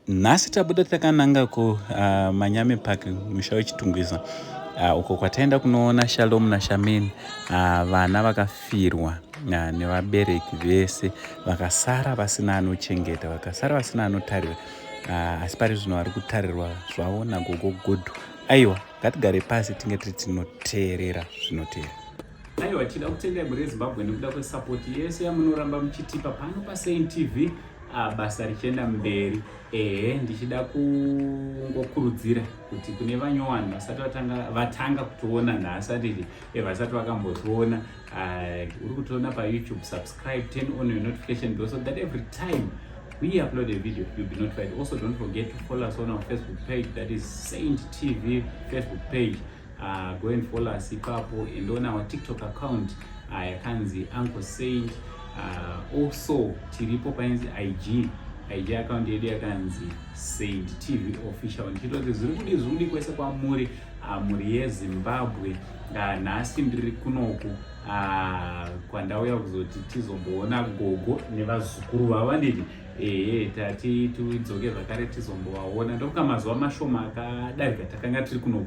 nhasi tabuda takananga ku uh, manyame park musha wechitungwiza uh, uko kwataenda kunoona shalom nashameni uh, vana vakafirwa uh, nevabereki vese vakasara vasina anochengeta vakasara vasina anotarira uh, asi pari zvino vari kutarirwa zvavo nagogo gudhu aiwa ngatigare pasi tinge tiri tinoteerera zvinotera aiwa tida kutendai muri yezimbabwe nekuda kwesapoti yese yamunoramba muchitipa pano pasain tv ah, basa richienda mberi ehe ndichida kungokurudzira kuti kune vanyowani vasati vatanga kutoona nhasi atiti eh, vasati vakambotiona uri kutiona payoutube subscribe turn on your notification bell so that every time we upload a video you'll be notified also don't forget to follow us on our facebook page that is saint tv facebook page uh, go and follow us ipapo and on our tiktok account uh, yakanzi uh, uncle saint uh, also tiripo painzi ig ig account yedu yakanzi saint tv official ndichitoti zvirikudi zvirikudi kwese kwamuri uh, mhuri yezimbabwe uh, Ah, nhasi ndiri kunoku ah, kwandauya kuzoti tizomboona gogo nevazukuru vavanini ehe tati tidzoke zvakare tizombovaona ndokuka mazuva mashoma akadarika takanga tiri kunoku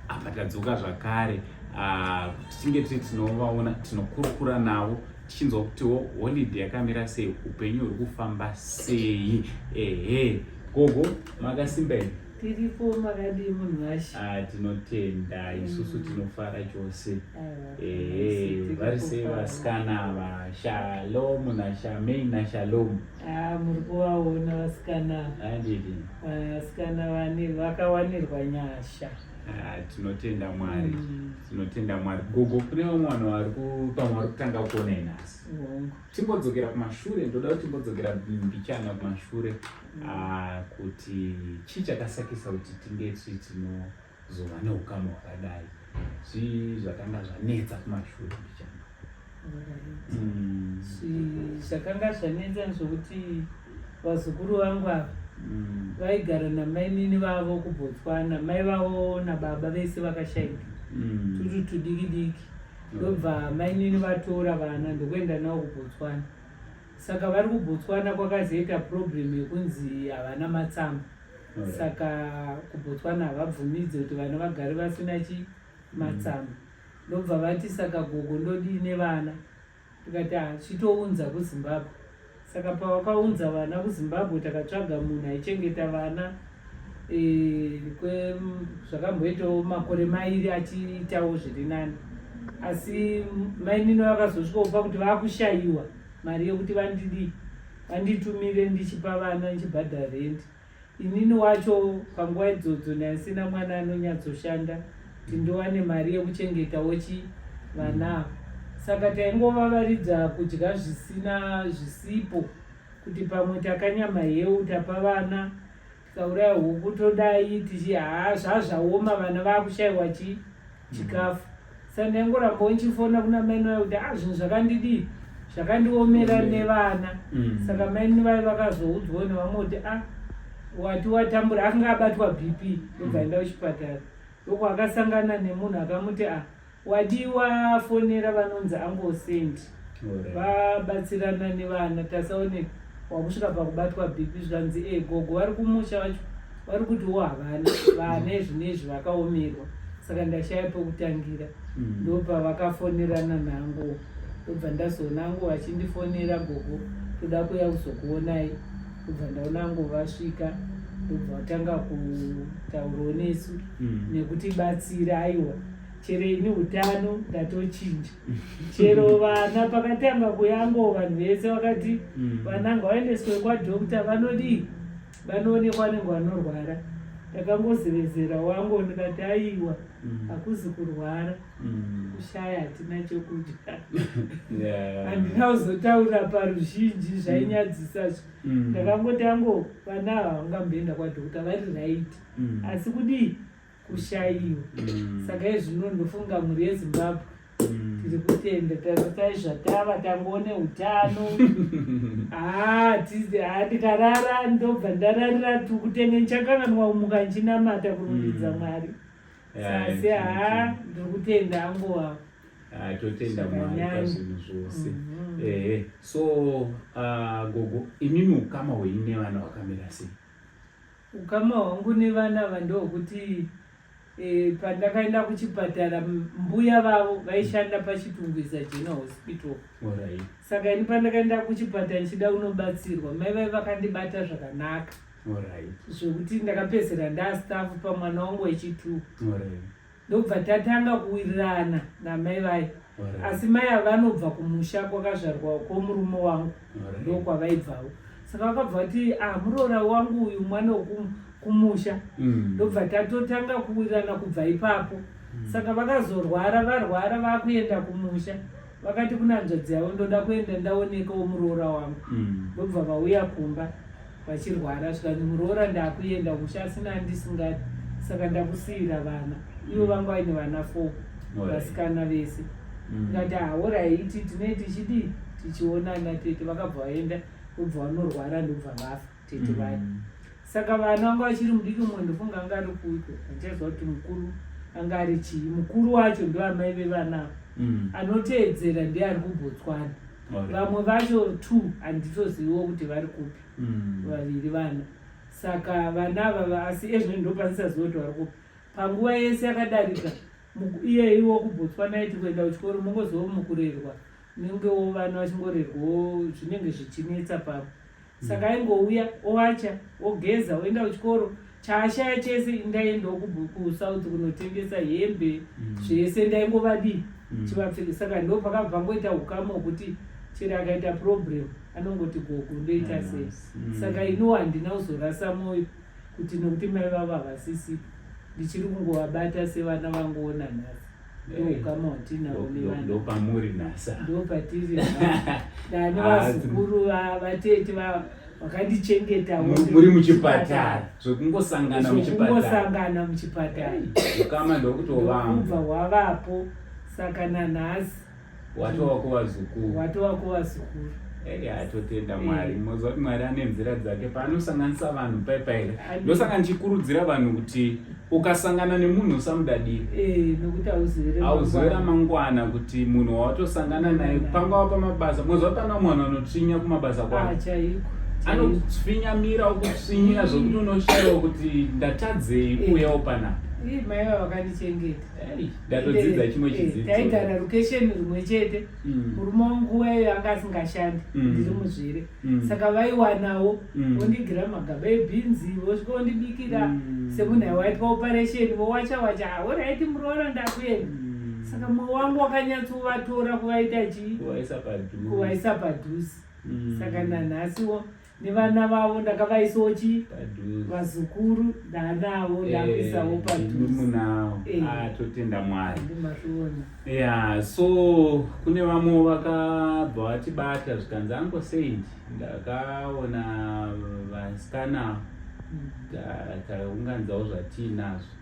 apa tadzoka zvakare ah, kuti tinge tiri tinovaona tinokurukura navo tichinzwa kutiwo holide yakamira sei upenyu huri kufamba sei ehe gogo makasimba here tiripo makadii munhu washe ah, tinotenda mm. isusu tinofara chose eh, vari sei vasikana ava shalomu nashamei nashalomu ah, muri kuvaona vasikana andidi ah, vasikana vane vakawanirwa nyasha tinotenda mwari mm. tinotenda mwari gogo kune vamwe vanhu vari pamwe vari kutanga kuona inhasi timbodzokera kumashure ndoda kuti timbodzokera mbichana kumashure mm. ah, kuti chii chakasakisa kuti tinge tichi tinozova neukama hwakadai zvii zvakanga zvanetsa kumashure mbichana mm. zvakanga zvanetsa zvokuti vazukuru vangu ava mm. vaigara namainini vavo kubotswana mai vavo nababa vese vakashaika tutu tudiki diki ndobva mainini vatora vana ndokuenda navo kubotswana saka vari kubotswana kwakazoita problem yekunzi havana matsamba hmm. saka kubotswana havabvumidze kuti vana vagari vasina chi matsamba ndobva vati saka gogo ndodii nevana ndikati ah, chitounza kuzimbabwe saka pavakaunza vana kuzimbabwe takatsvaga munhu aichengeta vana e, zvakamboitawo makore mairi achiitawo zviri nani asi mainini vakazosvikopa kuti vakushayiwa mari yekuti vandidii vanditumire ndichipa vana ndichibhadhara rendi Inini wacho panguva idzodzo ndaisina mwana anonyatsoshanda kuti ndowane mari yekuchengetawo chi vana ava saka taingovavaridza kudya zvisina zvisipo kuti pamwe takanyama hewu tapa vana tikauraya huku todai tichi haa zvazvaoma vana vakushaiwa chii chikafu saka ndaingoramba uchifona kuna maini vayo kuti ah zvinhu zvakandidii zvakandiomera nevana mm. saka maini vayo vakazoudzwa nevamwe kuti ah wati watambura akanga abatwa bp ndobvaenda mm. kuchipatara loko akasangana nemunhu akamuti ah wadiwa fonera vanonzi angosendi vabatsirana nevana tasaone wakusvika pakubatwa bhipi zvikanzi e gogo vari kumusha vacho vari kutiwo havana vana izvi neizvi vakaomerwa saka ndashaya pekutangira mm. ndopa vakafonerana nangu ndobva ndazoona angu vachindifonera gogo toda kuya kuzokuonai ndobva ndaona angu vasvika ndobva vatanga kutaurawo nesu mm. nekutibatsira aiwa chero ini utano ndatochinja chero vana pakatanga kuyango vanhu vese vakati mm. vana ngavaendeswe kwadokta vanodii vanoonekwa vanenge vanorwara ndakangozevezera wangu ndikati aiwa mm. hakuzi kurwara mm. kushaya hatina chokudya handina kuzotaura paruzhinji zvainyadzisa zvo ndakangoti ango vana ava vangamboenda kwadokta vari raiti asi kudii kushaiwa mm. saka izvino ndofunga mhuri yezimbabwe mm. tiri kutenda tatai zvatava tangoone utano haa ah, tizi haa ah, tikarara ndobva ndararira tikutenge ndichakanganwa umuka ndichinamata kurumbidza mm. mwari sasi haa ndiri kutenda angowa ah, totenda mwari pazvinhu zvose mhm. ehe so gogo imimi ukama hwenyu nevana hwakamira sei Ukama hwangu nevana ava ndohwokuti e, pandakaenda kuchipatara mbuya vavo vaishanda pachitungwiza general hospital right. saka ini pandakaenda kuchipatara ndichida unobatsirwa mai vai vakandibata zvakanaka right. zvekuti ndakapedzera ndastaff pamwana wangu wechitwo right. ndobva tatanga kuwirirana namai vaye asi mai ava vanobva kumusha kwakazvarwa kwomurume wangu ndokwavaibvawo saka vakabva vati ah muroora wangu uyu mwana wekumusha mm. ndobva tatotanga kuwirirana kubva ipapo mm. saka vakazorwara varwara vakuenda kumusha vakati kuna hanzvadzi yavo ndoda kuenda ndaonekawo muroora wangu mm. ndobva mm. vauya kumba vachirwara zvikanzi muroora ndakuenda kumusha asina andisingadi saka ndakusiyira vana ivo vanga vaine vana four vasikana vese mm. ndati hauraiti tinee tichidii tichionana tete vakabva vaenda ndobva vanorwara ndobva vafa tete vaya mm. saka vana vanga vachiri mudiki mumwe ndofunga anga ari kuiko achaziva kuti mukuru anga ari chii mukuru wacho ndoamai vevana mm. anoteedzera ndiye ari kubotswana vamwe vacho two handitoziviwo kuti vari kupi mm. vaviri vana saka vana avava asi ezvino ndopanisaziva kuti vari kupi panguva yese yakadarika iyeiwo kubotswana iti kuenda kuchikoro mongozova mukurerwa nenge wo vana vachingorerwawo zvinenge zvichinetsa pavo saka aingouya owacha ogeza oenda kuchikoro chaashaya chese ndaiendawo kusouth kunotengesa hembe mm. zvese ndaingovadii mm. chivapfeke saka ndo pakabva ngoita ukama hwekuti chero akaita problem anongoti gogo ndoita ah, sei mm. saka iniwo handina kuzorasa mwoyo kuti nokuti mai vavo havasisipo ndichiri kungovabata sevana vangoona nhasi ndoukama watinavo nevandopamuri nasa ndopatiri dani vazukuru vatete vavo wakandichengeta muri muchipatara zvekungosangana muchipatarakungosangana muchipatara ukama ndokutovamba hwavapo saka nanhasi watova kuvazukuru watova kuvazukuru Hey, atotenda mwari eh. moziva kuti mwari ane nzira dzake paanosanganisa vanhu paipa here ndosaka ndichikurudzira vanhu kuti ukasangana nemunhu usamudadiri eh, auzive ramangwana kuti munhu wawatosangana naye pangava pamabasa moziva kuti pana mwana anotsvinya kumabasa ah, kwavo anotsvinyamira okutsvinyira zvokuti unoshayiwa kuti ndatadzei eh. uyawo panapa ndatodzidza chimwe eh, chidzidzo taigara location rimwe chete mm. murume wangu wayo anga asingashandi mm. ndiri muzvere mm. saka vaiwanawo vondigira magaba ebhinzi vosvika vondibikira semunhu aiwaitwa operation vowacha wacha oraiti muroora ndakuenda saka mwoyo wangu wakanyatsovatora kuvaita chii kuvaisa padhuzi saka nanhasiwo nevana vavo ndakavaisawo chi vazukuru ndaanavo eh, ndakuisawo padhuzemunavo eh. ah, totenda mwari ya so kune vamwe vakabva vatibata zvikanzi ango saint ndakaona vasikana mm. taunganzawo zvatiinazvo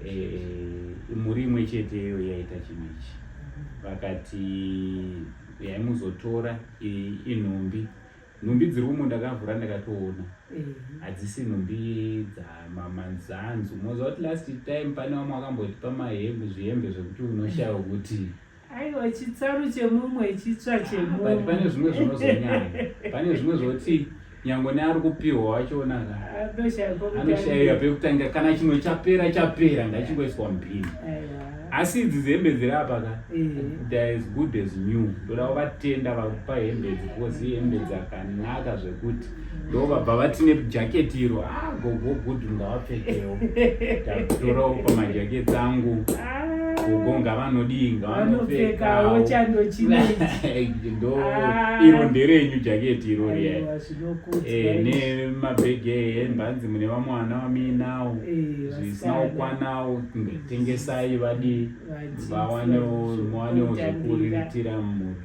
eh, mhuri imwe chete iyo yaita chinhu ichi mm-hmm. vakati yaimuzotora inhumbi Nhumbi dziri umo ndakavhura ndakatoona eh. hadzisi nhumbi dzamamanzanzu moziva kuti last time pane vamwe wakamboti pamahembe zvihembe zvekuti unoshaya kuti aiwa chitsaru chemumwe chitsva ah, chemumwe but pane zvimwe zvinozonyanya pane zvimwe zvoti nyango neari kupiwa wachiona anoshaiwa pekutanga kana chimwe chapera chapera ngachingoiswa mupini asi idzi dzehembe dziri apa ka theyare eh. as good as new ndoda kuvatenda vakupa hembe idzi because ihembe dzakanaka zvekuti ndo vabva vati nejaketi iro a ah, gogo good ngavapfekewo ndatorawo pamajaketi angu gogo ah. ngavanodii ngavanopfekawo chando chinei ndo ah. iro nderenyu jaketi iro riya eh, nemabhegi ehembe hanzi mune vamwana vamuinawo eh, zvisina kukwanawo tengesai vadii vawanewo muwanewo zvekuriritira mhuri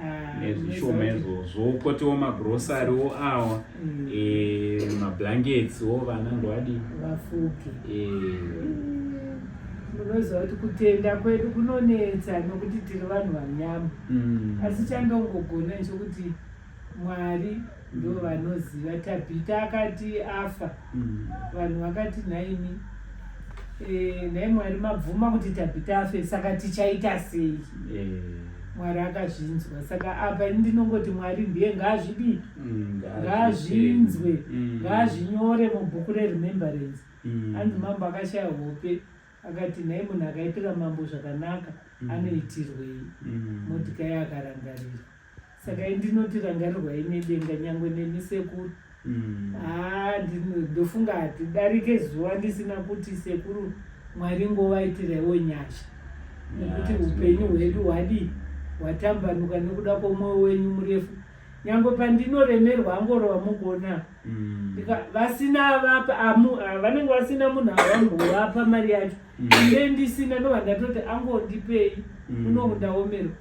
ah, nezvishoma izvozvo kotiwo magrosariwo awa mm. eh, mablankets wo vana ndovadii vafuke eh. mm, munoziva kuti kutenda kwedu kunonetsa nokuti tiri vanhu vanyama mm. asi chandongogona nchokuti Mwari ndo mm. vanoziva. Mm. Tabhita akati afa mm. vanhu vakati nhaimi e, eh, nhai Mwari mabvuma kuti Tabhita afe saka tichaita sei? Eh. Mwari akazvinzwa saka apa ini ndinongoti Mwari ndiye ngaazvidii mm, ngaazvinzwe mm. ngaazvinyore mm. mubhuku reremembrance mm. anzi mambo akashaya hope akati nhai munhu akaitira mambo zvakanaka mm. anoitirwei mm. modikai akarangarirwa saka indinoti rangarirwai nedenga nyangwe nemi sekuru mm. haa ah, ndofunga hatidarike zuva ndisina kuti sekuru mwari ngovaitirewo nyasha nekuti upenyu hwedu hwadii hwatambanuka nekuda kwomwoyo wenyu murefu nyangwe pandinoremerwa angorova mukuona mm. vasina vapa ah, vanenge vasina munhu avambovapa mari yacho mm. ine ndisina ndovandatoti angondipei unokundaomerwa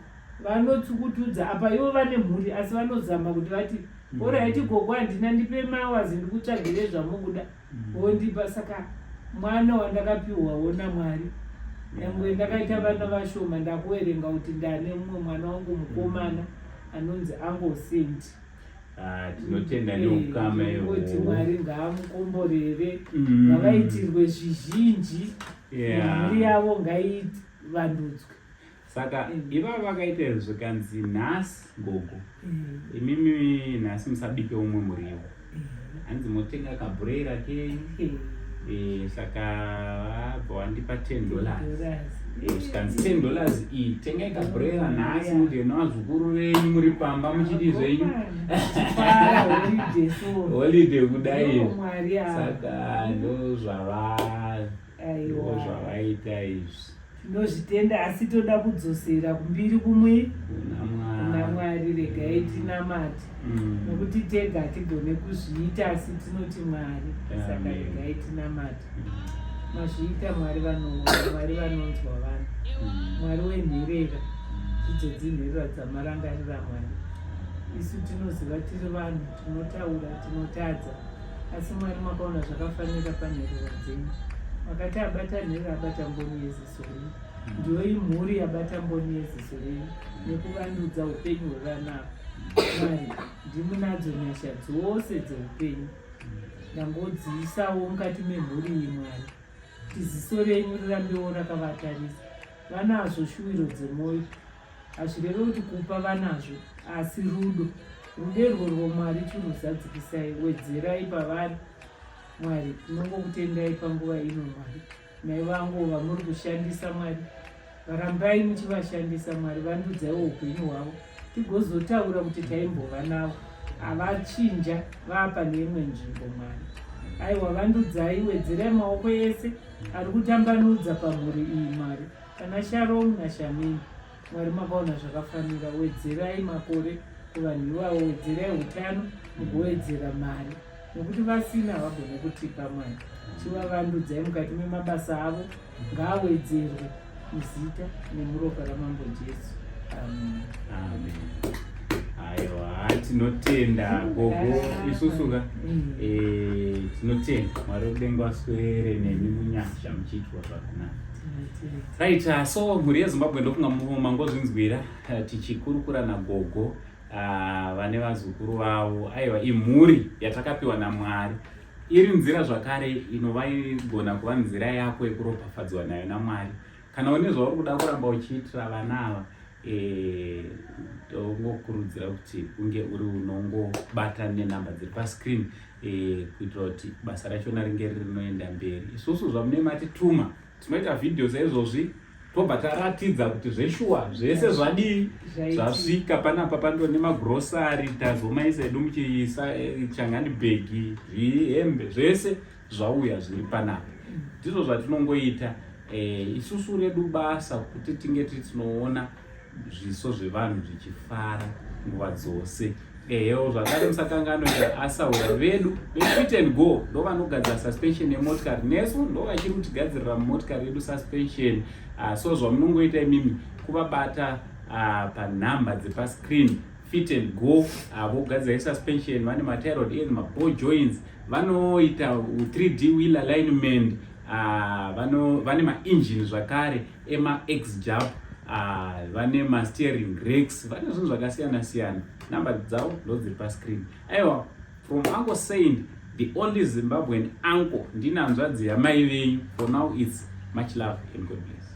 vanotsukutudza apa ivo vane mhuri asi vanozama kuti vati mm. oraiti gogo handina ndipe mawazi ndikutsvagire zvamukuda mm. wondipa saka mwana wandakapiwawo namwari nyangwe ndakaita vana vashoma ndakuverenga kuti ndane mumwe mwana wangu mukomana anonzi angosent ah, tinotenda eh, neukama kuti mwari ngaamukomborere mm. ngavaitirwe zvizhinji mari yavo ngaivandudzwe saka mm. ivavo vakaita izvo zvikanzi nhasi gogo mm. imimi nhasi musabike umwe muriwo mm. hanzi motenga kabhureira kenyu eh, saka vabva wandipa ten dollars eh, zvikanzi ten dollars iyi tengai kabhureira nhasi mudye nevazukuru venyu muri pamba muchidi zvenyu holiday kudai saka ndozvavaa aiwa zvavaita izvi tinozvitenda asi toda kudzosera kumbiri kumwe kuna mwari regai tinamati mm. nokuti tega hatigone kuzviita asi tinoti mwari saka regai tinamati mazviita mwari vanoona mwari vanonzwa vanhu mm. mwari wenherera idzo dzinherera dzamarangarira mwari isu tinoziva tiri vanhu tinotaura tinotadza asi mwari makaona zvakafanira panherera dzenyu makati abata nhere abata mboni yeziso renyu mm. ndiyo imhuri yabata mboni yeziso renyu mm. nekuvandudza upenyu hwevana mwari ndimunadzo nyasha dzose dzeupenyu mm. ndangodziisawo mukati memhuri iyi mwari tiziso renyu rirambewo rakavatarisa vanazvo shuwiro dzemwoyo hazvireve kuti kupa vanazvo asi rudo rudo irworwo mwari chiruzadzikisai wedzerai pavari mwari tinongokutendai panguva ino mwari mai vangu vamuri kushandisa mwari varambai muchivashandisa mwari vandudzaiwo upenyu hwavo tigozotaura kuti taimbova navo havachinja vapa neimwe nzvimbo mwari aiwa vandudzai wedzerai maoko ese ari kutambanudza pamhuri iyi mwari Kana Sharom na Shamini Mwari makaona zvakafanira wedzerai makore kuvanhu ivavo wedzerai utano mugowedzera mari nokuti vasina havagone kutipa mwari chivavandudzai mukati memabasa avo ngaawedzerwe muzita nemuropa ramambo jesu amen amen aiwa tinotenda gogo isusuka mm. eh, tinotenda mwari wekudenga waswere nemi munyasha muchiitwa zvakanaka Right, uh, so mhuri yeZimbabwe ndofunga mangozvinzwira uh, tichikurukura nagogo uh, vane vazukuru vavo aiwa imhuri yatakapiwa naMwari iri nzira zvakare inova igona kuva nzira yako yekuropafadzwa nayo naMwari kana une zvauri kuda kuramba uchiitira vana ava ndokukurudzira kuti unge uri unongobata nenhamba dziri pascreen eh, kuitira kuti basa rachona ringe riri rinoenda mberi isusu zvamune matituma tinoita vhidhiyo saizvozvi tobva taratidza kuti zveshuwa zvese zvadii zvasvika panapa pando nemagrosari tazomaisa edu muchiisa eh, changani bhegi zvihembe zvese zvauya zviri panapa ndizvo zvatinongoita eh, isusu redu basa kuti tinge titinoona zviso zvevanhu zvichifara nguva dzose ehewo eh, zvakare musakangano asaura vedu vefit and go ndo vanogadzira suspension yemotikari nesu ndo vachiri kutigadzirira mumotikari yedu suspension uh, so zvamunongoita imimi kuvabata uh, panhamba dzepascreen fit and go avo gadzira suspension vane matirod edu maball joints vanoita 3d wheel alignment ah, vano vane maengine zvakare emax jab ah, vane masteering rex vane zvinhu zvakasiyana siyana number dzavo ndodziri pascreen aiwa from uncle saint the only zimbabwean uncle ndinanzvadzi yamai venyu for now its much love and god bless